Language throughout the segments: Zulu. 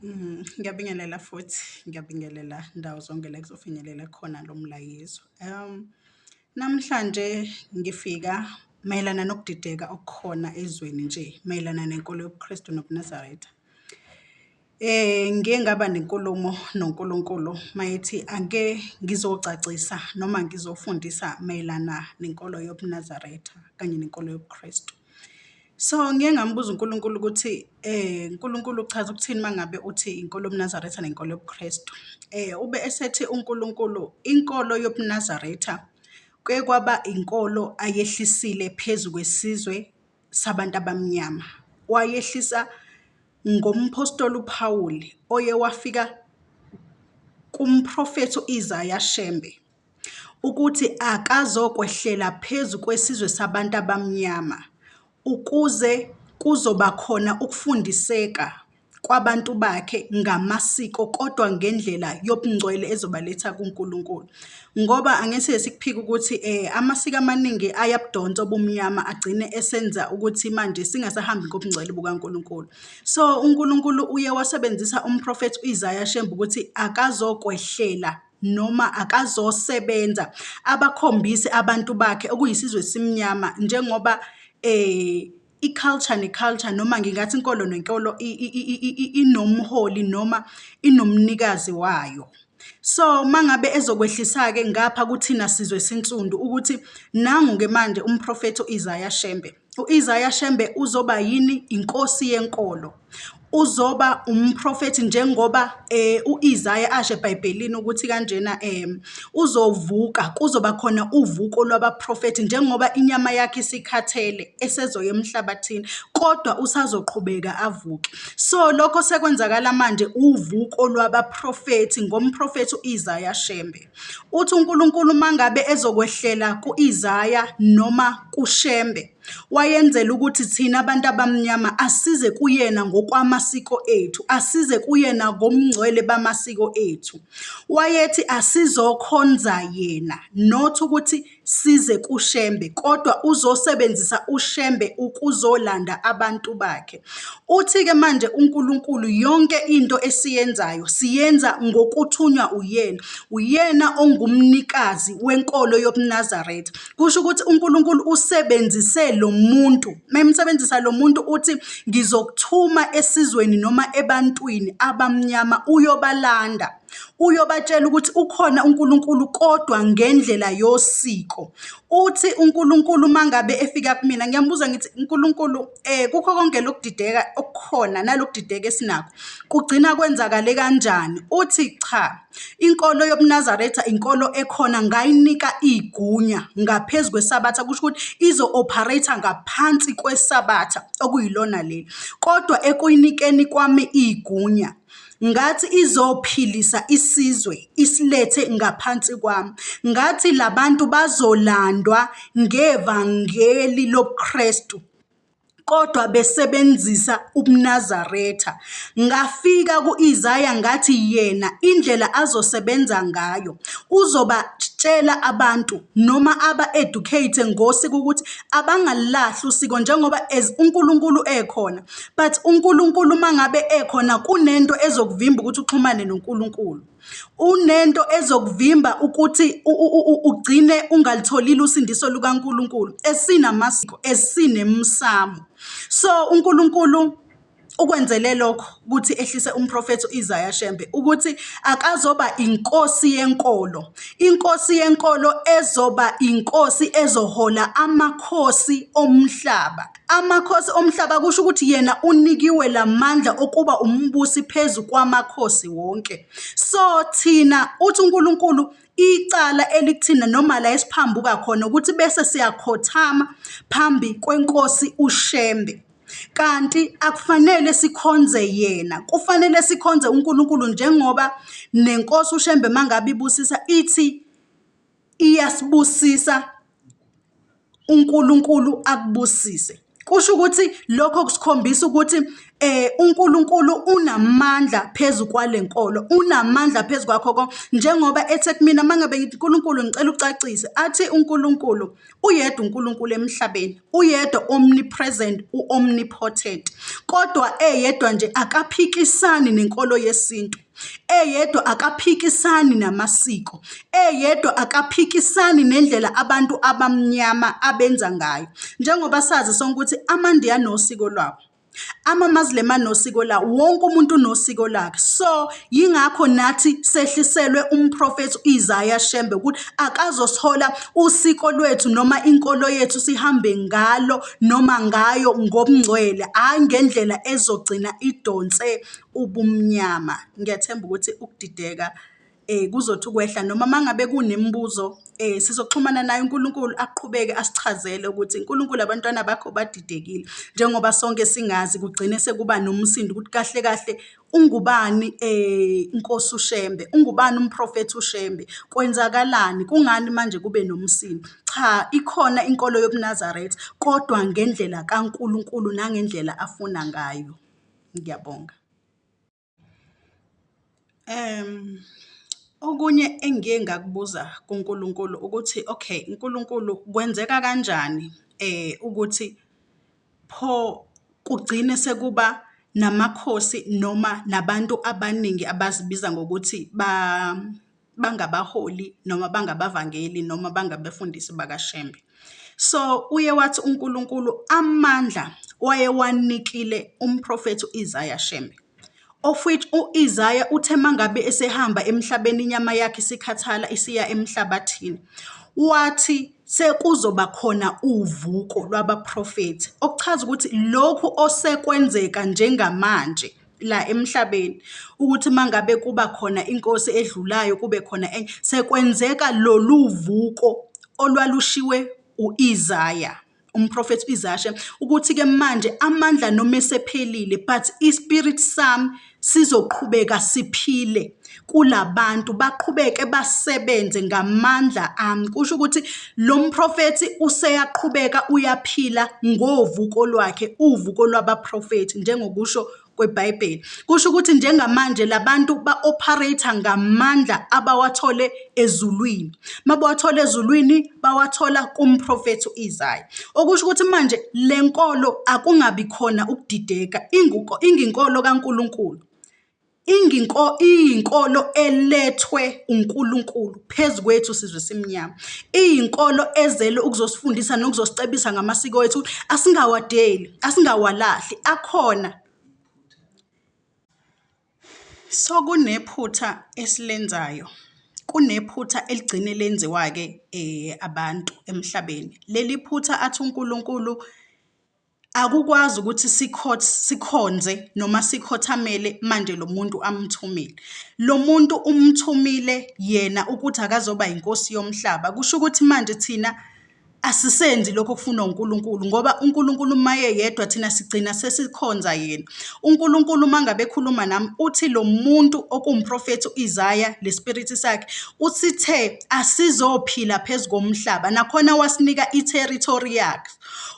Mm, ngiyabingelela futhi ngiyabingelela ndawo zonke la kuzofinyelela khona lo mlayezo um namhlanje ngifika mayelana nokudideka okukhona ezweni nje mayelana nenkolo yobuKristu nobuNazaretha eh ngiye ngaba nenkulumo noNkulunkulu mayethi ake ngizocacisa noma ngizofundisa mayelana nenkolo yobuNazaretha kanye nenkolo yobuKristu So ngiye ngambuza uNkulunkulu ukuthi eh uNkulunkulu uchaza ukuthini mangabe uthi inkolo yobuNazaretha nenkolo yobuKristu. Eh ube esethi uNkulunkulu inkolo yobuNazaretha kuye kwaba inkolo ayehlisile phezu kwesizwe sabantu abamnyama. Wayehlisa ngomphostoli uPhawuli oye wafika kumprofethi uIsaya Shembe ukuthi akazokwehlela phezu kwesizwe sabantu abamnyama ukuze kuzoba khona ukufundiseka kwabantu bakhe ngamasiko kodwa ngendlela yobungcwele ezobaletha kuNkulunkulu. Ngoba angeke sikuphike ukuthi eh, amasiko amaningi ayabudonsa obumnyama agcine esenza ukuthi manje singasahambi ngobungcwele bukaNkulunkulu. So uNkulunkulu uye wasebenzisa umprofethi uIsaya Shembe ukuthi akazokwehlela noma akazosebenza abakhombise abantu bakhe okuyisizwe esimnyama njengoba um i-culture ne-culture noma ngingathi inkolo nenkolo inomholi noma inomnikazi wayo. So, uma ngabe ezokwehlisa-ke ngapha kuthina sizwe esinsundu ukuthi nangu-ke manje uMphrofethi u-Isaya Shembe U-Isaya Shembe uzoba yini inkosi yenkolo. Uzoba umprofethi njengoba eh u-Isaya asho eBhayibhelini ukuthi kanjena eh uzovuka kuzoba khona uvuko lwabaprofethi njengoba inyama yakhe isikhathele esezoya emhlabathini kodwa usazoqhubeka avuke. So lokho sekwenzakala manje uvuko lwabaprofethi ngomprofethi u-Isaya Shembe. Uthi uNkulunkulu uma ngabe ezokwehlela ku-Isaya noma kuShembe, wayenzela ukuthi thina bantu abamnyama asize kuyena ngokwamasiko ethu, asize kuyena ngomngcwele bamasiko ethu. Wayethi asizokhonza yena, not ukuthi size kuShembe kodwa uzosebenzisa uShembe ukuzolanda abantu bakhe. Uthi-ke manje uNkulunkulu yonke into esiyenzayo siyenza ngokuthunywa uyena, uyena ongumnikazi wenkolo yobuNazaretha. Kusho ukuthi uNkulunkulu usebenzise lo muntu, memsebenzisa lo muntu uthi ngizokuthuma esizweni noma ebantwini abamnyama uyobalanda. uyobatshela ukuthi ukhona uNkulunkulu kodwa ngendlela yosiko. Uthi uNkulunkulu uma ngabe efika kumina ngiyambuza ngithi uNkulunkulu um eh, kukho konke lokudideka okukhona nalokudideka esinakho kugcina kwenzakale kanjani? Uthi cha, inkolo yobuNazaretha inkolo ekhona ngayinika igunya ngaphezu kwesabatha kusho ukuthi izo-operate-a ngaphansi kwesabatha okuyilona leli kodwa ekuyinikeni kwami igunya ngathi izophilisa isizwe isilethe ngaphansi kwami ngathi labantu bazolandwa ngevangeli lobuKristu kodwa besebenzisa ubuNazaretha ngafika kuIsaya ngathi yena indlela azosebenza ngayo uzoba tshela abantu noma aba-educate ngosiko ukuthi abangalulahli usiko njengoba as uNkulunkulu ekhona But uNkulunkulu uma ngabe ekhona kunento ezokuvimba ukuthi uxhumane noNkulunkulu. Unento ezokuvimba ukuthi ugcine ungalitholile usindiso lukaNkulunkulu esinamasiko esinemsamo. So uNkulunkulu ukwenzele lokho ukuthi ehlise umprofethi u-Isaya Shembe ukuthi akazoba inkosi yenkolo inkosi yenkolo ezoba inkosi ezohola amakhosi omhlaba Amakhosi omhlaba kusho ukuthi yena unikiwe lamandla okuba umbusi phezu kwamakhosi wonke. So thina uthi uNkulunkulu icala elikuthina noma la esiphambuka khona ukuthi bese siyakhothama phambi kwenkosi uShembe. Kanti akufanele sikhonze yena, kufanele sikhonze uNkulunkulu njengoba nenkosi uShembe mangabe ibusisa ithi iyasibusisa uNkulunkulu akubusise kusho ukuthi lokho kusikhombisa ukuthi eh uNkulunkulu unamandla phezu kwalenkolo unamandla phezu kwakho konke njengoba ethe kumina mangabe ngithi uNkulunkulu ngicela ucacise athi uNkulunkulu uyedwa uNkulunkulu emhlabeni uyedwa omnipresent uomnipotent kodwa eyedwa nje akaphikisani nenkolo yesintu eyedwa akaphikisani namasiko, eyedwa akaphikisani nendlela abantu abamnyama abenza ngayo. Njengoba sazi sonke ukuthi amaNdiya anosiko lwabo, ama-Muslim anosiko lawo, wonke umuntu unosiko lakhe. So yingakho nathi sehliselwe umprofethi u-Isaiah Shembe ukuthi akazosithola usiko lwethu noma inkolo yethu sihambe ngalo noma ngayo ngobungcwele, hhayi ngendlela ezogcina idonse ubumnyama. Ngiyathemba ukuthi ukudideka kuzothi ukwehla noma uma ngabe kunemibuzo sizoxhumana naye uNkulunkulu aqhubeke asichazele ukuthi uNkulunkulu abantwana bakho badidekile njengoba sonke singazi kugcine sekuba nomsindo ukuthi kahle kahle ungubani inkosi uShembe, ungubani umprofethi uShembe, kwenzakalani, kungani manje kube nomsindo. Cha, ikhona inkolo yobuNazaretha kodwa ngendlela kaNkulunkulu nangendlela afuna ngayo. Ngiyabonga. Okunye engiye ngakubuza kuNkulunkulu ukuthi, okay Nkulunkulu kwenzeka kanjani ukuthi pho kugcine sekuba namakhosi noma nabantu abaningi abazibiza ngokuthi bangabaholi noma bangabavangeli noma bangabefundisi bakaShembe. So uye wathi uNkulunkulu amandla wayewanikile umprofethi u-Isaya Shembe of which u-Isaya uthe mangabe esehamba emhlabeni inyama yakhe isikhathala isiya emhlabathini wathi sekuzoba khona uvuko lwabaprofethi okuchaza ukuthi lokhu osekwenzeka njengamanje la emhlabeni ukuthi uma ngabe kuba khona inkosi edlulayo kube khona enye sekwenzeka lolu vuko olwalushiwe u-Isaya umprofethi u-Isaya shem ukuthi-ke manje amandla noma esephelile but ispirit sami sizoqhubeka siphile kulabantu baqhubeke basebenze ngamandla ami kusho ukuthi lo mprofethi useyaqhubeka uyaphila ngovuko lwakhe uvuko lwabaprofethi njengokusho kweBhayibheli kusho ukuthi njengamanje labantu ba-operate ngamandla abawathole ezulwini mabawathole ezulwini bawathola kumprofethi uIsaya okusho ukuthi manje lenkolo akungabi khona ukudideka inguko inginkolo kaNkuluNkulu Iyinkolo elethwe uNkulunkulu phezu kwethu sizwe simnyama. Iyinkolo ezele ukuzosifundisa nokuzosicebisa ngamasiko ethu, asingawadeli, asingawalahli, akhona. So kunephutha esilenzayo, kunephutha eligcine lenziwa-ke abantu emhlabeni. Leli phutha athi uNkulunkulu. akukwazi ukuthi sikhonze noma sikhothamele manje lo muntu amthumile lo muntu umthumile yena ukuthi akazoba inkosi yomhlaba kusho ukuthi manje thina asisenzi lokho okufunwa uNkulunkulu ngoba uNkulunkulu maye yedwa thina sigcina sesikhonza yena uNkulunkulu mangabe ekhuluma nami uthi lo muntu okumprofethi uIsaya lespirit sakhe usithe asizophila phezukomhlaba nakhona wasinika iterritory yakhe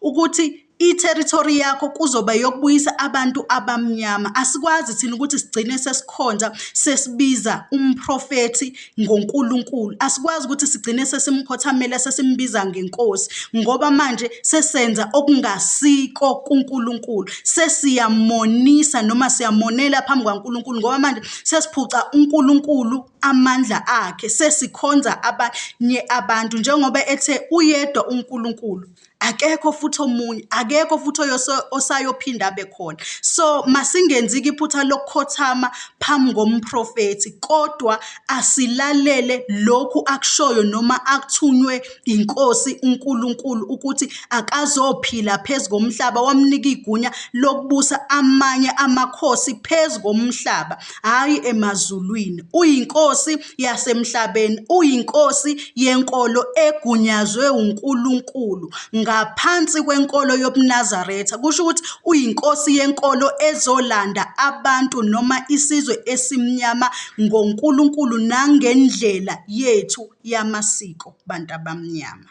ukuthi i-territory yakho kuzoba yokubuyisa abantu abamnyama asikwazi thina ukuthi sigcine sesikhonza sesibiza umprofethi ngoNkulunkulu asikwazi ukuthi sigcine sesimkhothamela sesimbiza ngenkosi ngoba manje sesenza okungasiko kuNkulunkulu sesiyamonisa noma siyamonela phambi kwaNkulunkulu ngoba manje sesiphuca uNkulunkulu amandla akhe sesikhonza abanye abantu njengoba ethe uyedwa uNkulunkulu akekho futhi omunye akekho futhi osayophinda abe khona so masingenzi-ke iphutha lokukhothama phambi ngomprofethi kodwa asilalele lokhu akushoyo noma akuthunywe iNkosi uNkulunkulu ukuthi akazophila phezu komhlaba, wamnika igunya lokubusa amanye amakhosi phezu komhlaba, hhayi emazulwini. UyiNkosi yasemhlabeni, uyiNkosi yenkolo egunyazwe uNkulunkulu ngaphansi kwenkolo yobuNazaretha. Kusho ukuthi uyiNkosi yenkolo ezolanda abantu noma isizwe esimnyama ngoNkulunkulu nangendlela yethu yamasiko bantu abamnyama.